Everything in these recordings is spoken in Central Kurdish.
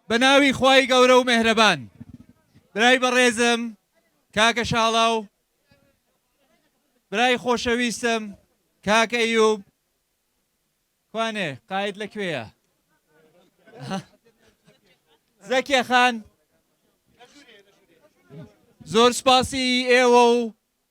بەناوی خوای گەورە و مێهرەبان برای بەڕێزم کاکە شاڵاو برای خۆشەویستم کاکە ئەیوب کوانێ قاید لە کوێیە زەکیە خان زۆر سپاسی ئێوە و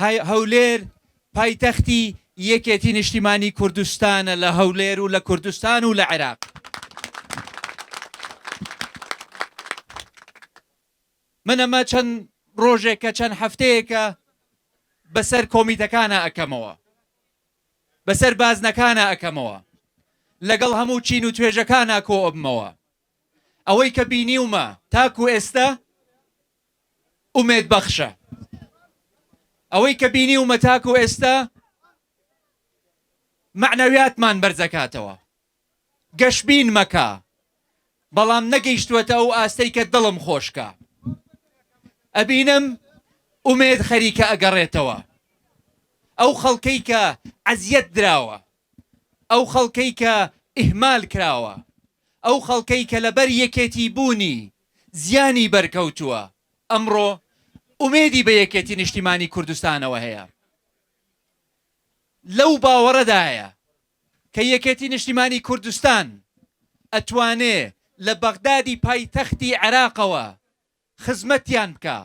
هەولێر پایتەختی یەکێتی نیشتیمانی کوردستانە لە هەولێر و لە کوردستان و لە عێراق. من ئەمە چەند ڕۆژێکە چەند هەفتەیەکە بەسەر کۆمیتەکانە ئەکەمەوە بەسەر بازنەکانە ئەکەمەوە لەگەڵ هەموو چین و توێژەکانە کۆ ئەبمەوە ئەوەی کە بینیومە تاکو ئێستا ئومێد بەخشە ئەوەی کە بینیومە تاکو ئێستا مەعنەویاتمان بەرزەکاتەوە گەشبین مەکە بەڵام نەگەیشتوەتە ئەو ئاستەی کە دڵم خۆشکە ئەبینم ئومێد خەریکە ئەگەڕێتەوە ئەو خەڵکەی کە عەزیەت دراوە ئەو خەڵکەی کە ئیهمال کراوە ئەو خەڵکەی کە لەبەر یەکێتی بوونی زیانی بەرکەوتووە، ئەمڕۆ ئومێدی بە یەکێتی نیشتیمانی کوردستانەوە هەیە، لەو باوەڕەدایە کە یەکێتی نیشتیمانی کوردستان ئەتوانێ لە بەغدادی پایتەختی عێراقەوە خزمەتیان بکا.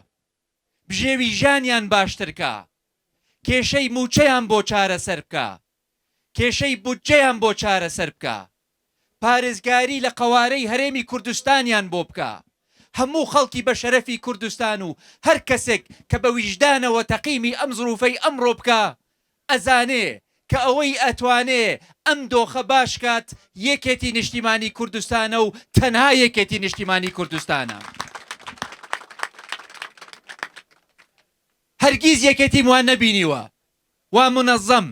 بژێوی ژیانیان باشتر کا، کێشەی مووچەیان بۆ چارەسەر بکا، کێشەی بودجەیان بۆ چارەسەر بکا، پارێزگاری لە قەوارەی هەرێمی کوردستانیان بۆ بکا، هەموو خەڵکی بەشەرەفی کوردستان و هەر کەسێک کە بە ویژدانەوە تەقیمی ئەم زروفەی ئەمڕۆ بکا ئەزانێ کە ئەوەی ئەتوانێ ئەم دۆخە باش کات یەکێتی نیشتیمانی کوردستانە و تەنها یەکێتی نیشتیمانی کوردستانە هەرگیز یەکێتیم وا نەبینیوە وا منەزەم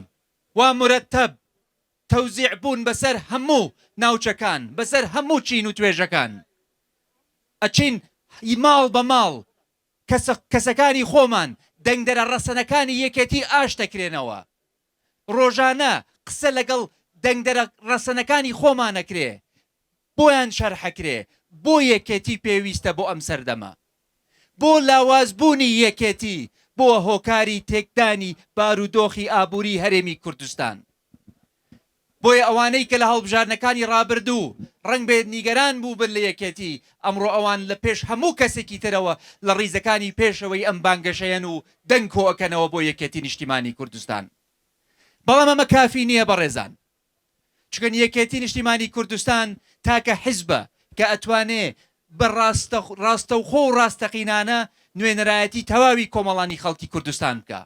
وا مرەتەب تەوزیع بوون بەسەر هەموو ناوچەکان بەسەر هەموو چین و توێژەکان ئەچین ماڵ بە ماڵ کەسە کەسەکانی خۆمان دەنگدەرە ڕەسەنەکانی یەکێتی ئاش دەکرێنەوە. ڕۆژانە قسە لەگەڵ دەنگدەرە ڕەسەنەکانی خۆمان ئەکرێ، بۆیان شەرح ئەکرێ بۆ یەکێتی پێویستە بۆ ئەم سەردەمە. بۆ لاواز بوونی یەکێتی بووە هۆکاری تێکدانی بارودۆخی ئابووری هەرێمی کوردستان. بۆیە ئەوانەی کە لە هەڵبژاردنەکانی ڕابردوو ڕەنگبێت نیگەران بووبن لە یەکێتی، ئەمڕۆ ئەوان لە پێش هەموو کەسێکی ترەوە لە ڕیزەکانی پێشەوەی ئەم بانگەشەیەن و دەنگ کۆئەکەنەوە بۆ یەکێتی نیشتیمانی کوردستان. بەڵام ئەمە کافی نییە بەڕێزان. چونکە یەکێتی نیشتیمانی کوردستان تاکە حیزبە کە ئەتوانێ بە ڕاستەخ ڕاستەوخۆ و ڕاستەقینانە نوێنەرایەتی تەواوی کۆمەڵانی خەڵکی کوردستان بکا.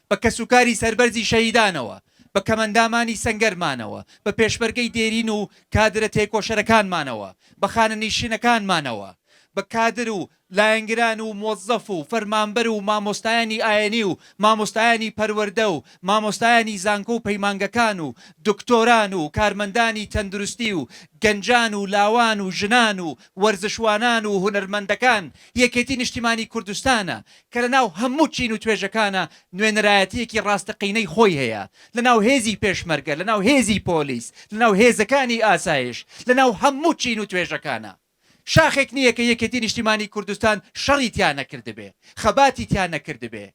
بە کەسوکاری سەربەرزی شەهیدانەوە، بە کەمەندامانی سەنگەرمانەوە، بە پێشمەرگەی دێرین و کادرە تێکۆشەرەکانمانەوە، بە خانەنیشینەکانمانەوە، بە کادر و لایەنگران و مۆزەف و فەرمانبەر و مامۆستایانی ئایینی و مامۆستایانی پەروەردە و مامۆستایانی زانکۆ و پەیمانگەکان و دکتۆران و کارمەندانی تەندروستی و گەنجان و لاوان و ژنان و وەرزشوانان و هونەرمەندەکان یەکێتی نیشتیمانی کوردستانە کە لە ناو هەموو چین و توێژەکانا نوێنەرایەتییەکی ڕاستەقینەی خۆی هەیە، لە ناو هێزی پێشمەرگە، لە ناو هێزی پۆلیس، لە ناو هێزەکانی ئاسایش، لە ناو هەموو چین و توێژەکانا. شاخێک نییە کە یەکێتی نیشتیمانی کوردستان شەڕی تیا نەکردبێ، خەباتی تیا نەکردبێ.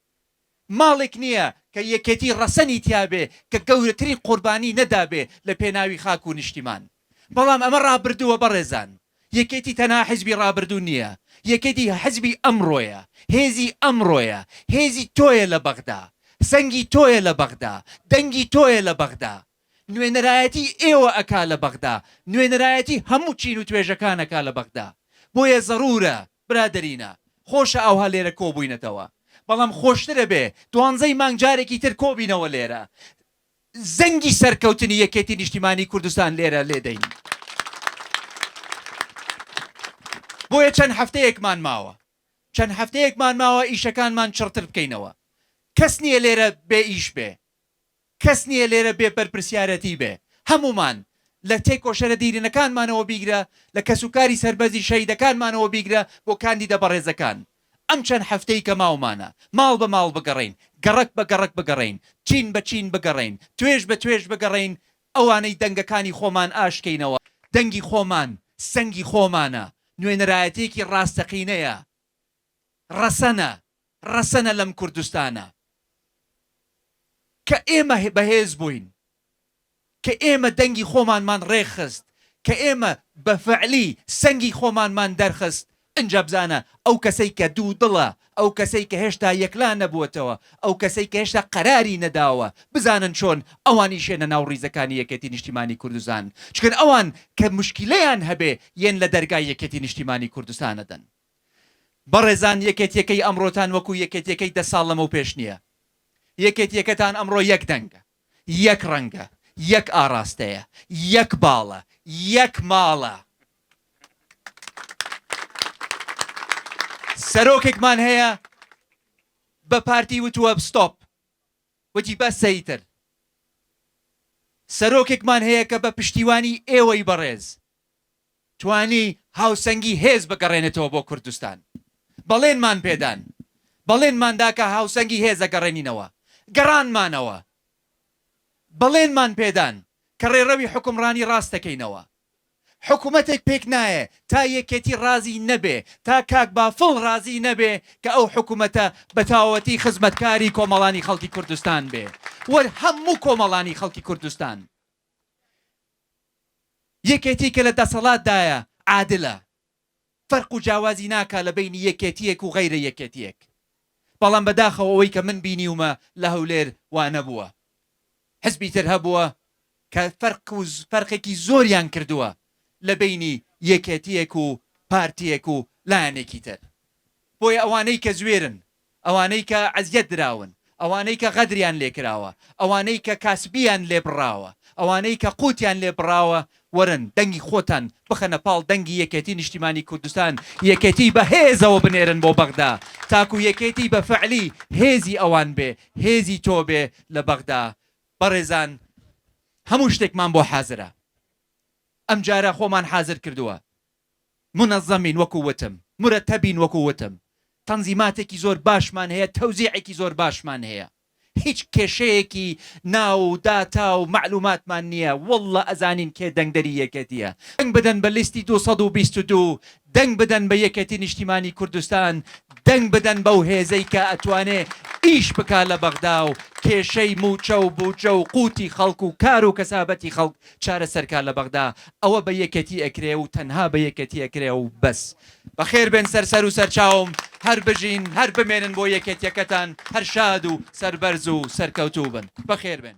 ماڵێک نییە کە یەکێتی ڕەسەنی تیا بێ کە گەورەترین قوربانی نەدابێ لە پێناوی خاک و نیشتیمان. بەڵام ئەمە ڕابردووە بەڕێزان، یەکێتی تەنها حزبی ڕابردوو نییە، یەکێتی حزبی ئەمڕۆیە، هێزی ئەمڕۆیە، هێزی تۆیە لە بەغدا، سەنگی تۆیە لە بەغدا، دەنگی تۆیە لە بەغدا، نوێنەرایەتی ئێوە ئەکا لە بەغدا، نوێنەرایەتی هەموو چین و توێژەکان ئەکا لە بەغدا، بۆیە زەرورە برادەرینە، خۆشە ئاوها لێرە کۆبووینەتەوە، بەڵام خۆشترە بێ دوانزەی مانگ جارێکی تر کۆبینەوە لێرە، زەنگی سەرکەوتنی یەکێتی نیشتیمانی کوردستان لێرە لێدەین. بۆیە چەند هەفتەیەکمان ماوە، چەند هەفتەیەکمان ماوە ئیشەکانمان چڕتر بکەینەوە. کەس نییە لێرە بێ ئیش بێ، کەس نییە لێرە بێ بەرپرسیارەتی بێ. هەموومان، لە تێکۆشەرە دیرینەکانمانەوە بیگرە، لە کەسوکاری سەربەرزی شەهیدەکانمانەوە بیگرە بۆ کاندیدە بەڕێزەکان، ئەم چەند هەفتەی کە ماومانە، ماڵ بە ماڵ بگەڕێین، گەڕەک بە گەڕەک بگەڕێین، چین بە چین بگەڕێین، توێژ بە توێژ بگەڕێین، ئەوانەی دەنگەکانی خۆمان ئاشکەینەوە، دەنگی خۆمان سەنگی خۆمانە، نوێنەرایەتیەکی ڕاستەقینەیە، ڕەسەنە، ڕەسەنە لەم کوردستانە کە ئێمە بەهێز بووین، کە ئێمە دەنگی خۆمانمان ڕێکخست، کە ئێمە بە فەعلی سەنگی خۆمانمان دەرخست، ئنجا بزانە، ئەو کەسەی کە دوودڵە، ئەو کەسەی کە هێشتا یەکلا نەبووەتەوە، ئەو کەسەی کە هێشتا قەراری نەداوە، بزانن چۆن ئەوان ئیشێنە ناو ڕیزەکانی یەکێتی نیشتیمانی کوردستان، چکن ئەوان کە موشکیلەیان هەبێ یێن لە دەرگای یەکێتی نیشتیمانی کوردستان ئەدەن. بەڕێزان یەکێتیەکەی ئەمڕۆتان وەکو یەکێتیەکەی دە ساڵ لەمەو پێش نیە، یەکێتیەکەتان ئەمڕۆ یەک دەنگە، یەک ڕەنگە، یەک ئاڕاستەیە، یەک باڵە، یەک ماڵە. سەرۆکێکمان هەیە بە پارتی وتووە ستۆپ، وتی بەسە ئیتر. سەرۆکێکمان هەیە کە بە پشتیوانی ئێوەی بەڕێز، توانی هاوسەنگی هێز بگەڕێنێتەوە بۆ کوردستان. بەڵێنمان پێدان. بەڵێنمان دا کە هاوسەنگی هێز دەگەڕێنینەوە. گەڕانمانەوە. بەڵێنمان پێدان کە ڕێڕەوی حوکمڕانی ڕاست دەکەینەوە. حکومەتێک پێک نایێ تا یەکێتی ڕازی نەبێ، تا کاک بافڵ ڕازی نەبێ کە ئەو حکومەتە بە تەواوەتی خزمەتکاری کۆمەڵانی خەڵکی کوردستان بێ و هەموو کۆمەڵانی خەڵکی کوردستان. یەکێتی کە لە دەسەڵات دایە عادلە فەرق و جاوازی ناکا لە بەینی یەکێتیەک و غەیرە یەکێتیەک بەڵام بە داخەوە ئەوەی کە من بینیومە لە هەولێر وا نەبووە حزبی تر هەبووە کە فەرق و فەرقێکی زۆریان کردووە لە بەینی یەکێتیەک و پارتیەک و لایەنێکی تر بۆیە ئەوانەی کە زوێرن ئەوانەی کە ئەزیەت دراون، ئەوانەی کە غەدریان لێکراوە، ئەوانەی کە کاسبیان لێ بڕاوە، ئەوانەی کە قوتیان لێ بڕاوە، وەرن دەنگی خۆتان بخەنە پاڵ دەنگی یەکێتی نیشتیمانی کوردستان، یەکێتی بە هێزەوە بنێرن بۆ بەغدا، تاکو یەکێتی بە فەعلی هێزی ئەوان بێ، هێزی تۆ بێ لە بەغدا. بەڕێزان هەموو شتێکمان بۆ حازرە. ئەمجارە خۆمان حازر کردووە. مونەزەمین وەکو وتم، مورەتەبین وەکو وتم، تەنزیماتێکی زۆر باشمان هەیە، تەوزیعێکی زۆر باشمان هەیە، هیچ کێشەیەکی ناو و داتا و مەعلوماتمان نییە، واللە ئەزانین کێ دەنگدەری یەکێتییە، دەنگ بدەن بە لیستی دوو سەد و بیست و دوو، دەنگ بدەن بە یەکێتی نیشتیمانی کوردستان، دەنگ بدەن بەو هێزەی کە ئەتوانێ ئیش بکا لە بەغدا و کێشەی مووچە و بودجە و قووتی خەڵک و کار و کەسابەتی خەڵک چارەسەرکە لە بەغدا ئەوە بە یەکێتی ئەکرێ و تەنها بە یەکێتی ئەکرێ و بەس. بەخێر بێن سەر سەر و سەرچاوم هەر بژین هەر بمێنن بۆ یەکێتیەکەتان هەر شاد و سەربەرز و سەرکەوتوو بن بەخێر بێن.